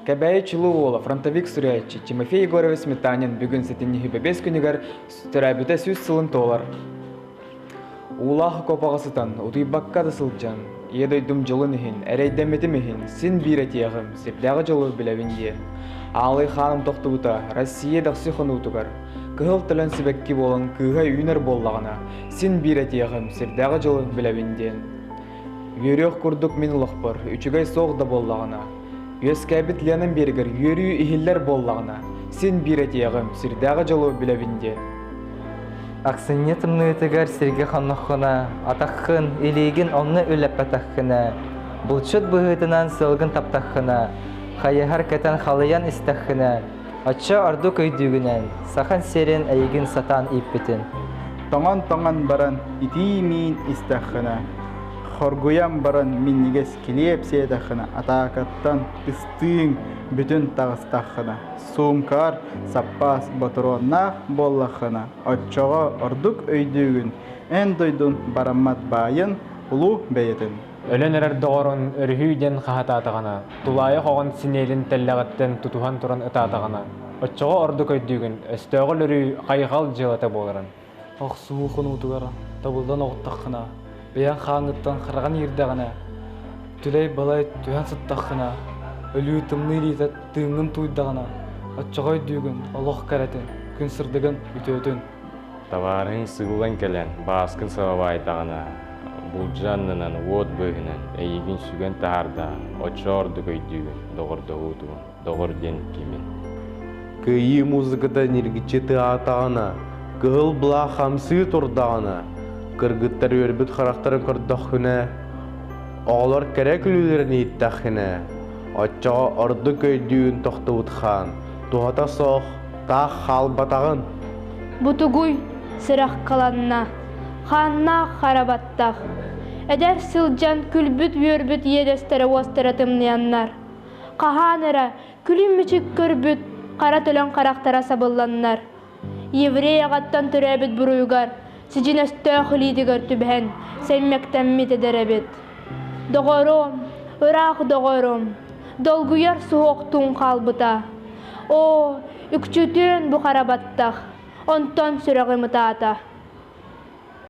Кэбээйи чулуу уола, фронтовик суруйааччы Тимофей Егорович Сметанин бүгүн сэтинньи бэбиэс күнүгэр төрөөбүтэ сүүс сылын туолар. Уулаах окопаҕа сытан, утуйбакка да сылдьан, ийэ дойдум дьылын иһин, эрэйдэммитим иһин син биир этиэҕим, сирдээҕи дьолу билэбин диэ. Аалый хааным тохтубута Россия дэхси хонуутугар. Кыһыл төлөн сибэкки буолан кыыһа үүнэр буоллаҕына, син биир этиэҕим, сирдээҕи дьолу билэбин диэн. Үөрүөх курдук мин олохпор үчүгэй суох да буоллаҕына, үөскээбит Ленам биэргэр үөрүү иһиллэр буоллаҕына, син биир этиэҕим, сирдээҕи дьолу билэбин диэн. Аксынньа тымныытыгар сиргэ хонноххуна, атаххын, илиигин онно үлэппэтэххинэ, булчут быһыытынан сылгын таптаххына, хайыһар кэтэн халыйан истэххинэ, Оччо ордук өйдүүгүнэн, Саха сирин эйигин сатаан ииппитин. Тоҥон-тоҥон баран итии-миин истэххинэ, хоргуйан баран минньигэс килиэп сиэтэххинэ, атаакаттан ыстыыҥ бүтүн таҕыстаххына, суумкаҕар саппаас ботуруоннаах буоллаххына, оччоҕо ордук өйдүүгүн эн дойдун бараммат баайын, улуу бэйэтин. Өлөн эрэр доҕорун өрүһүй диэн хаһытаатаҕына, тулаайах оҕон синиэлин тэллэҕиттэн тутуһан туран ытаатаҕына, оччоҕо ордук өйдүүгүн, өстөөҕү өлөрүү хайҕал дьыалата буоларын. Охсуу хонуутугар табыллан оҕуттаххына, бэйэҥ хааҥҥыттан хараҕын иирдэҕинэ, түлэй-балай түһэн сыттаххына, өлүү тымныы илиитэ тыыҥҥын тууйдаҕына, оччоҕо өйдүүгүн олох кэрэтин, күн сырдыгын, үтүөтүн. Табаарыһыҥ сыыллан кэлэн, бааскын сабабаайдаҕына, булдьу аннынан, уот быыһынан эйиигин сүгэн таһаардаҕын, оччо ордук өйдүүгүн, доҕордоһуутуҥ, доҕор диэн кимин? Кыайыы музыката ньиргиччи тыаһаатаҕына, кыһыл былаах хамсыы турдаҕына, кыргыттар үөрбүт харахтарын көрдөххүнэ, оҕолор кэрэ күлүүлэрин иһиттэххинэ, оччоҕо ордук өйдүүгүн тохтубут хаан, туһата суох Таах хаалбатаҕын. Бу тугуй? Сыраххаланна. Хааннаах хара баттах. Эдэр сылдьан күлбүт-үөрбүт иэдэстэрэ-уостара тымныйаннар. Хаһаан эрэ күлүм-мүчүк көрбүт хара төлөн харахтара сабылланнар. Еврей аҕаттан төрөөбүт буруйугар сидьиҥэстээх илиитигэр түбэһэн сэммэктэммит эдэр эбит доҕорум ыраах доҕорум долгуйар суһуохтуун хаалбыта оо үкчүтүн бу хара баттах онтон сүрэҕим ытаата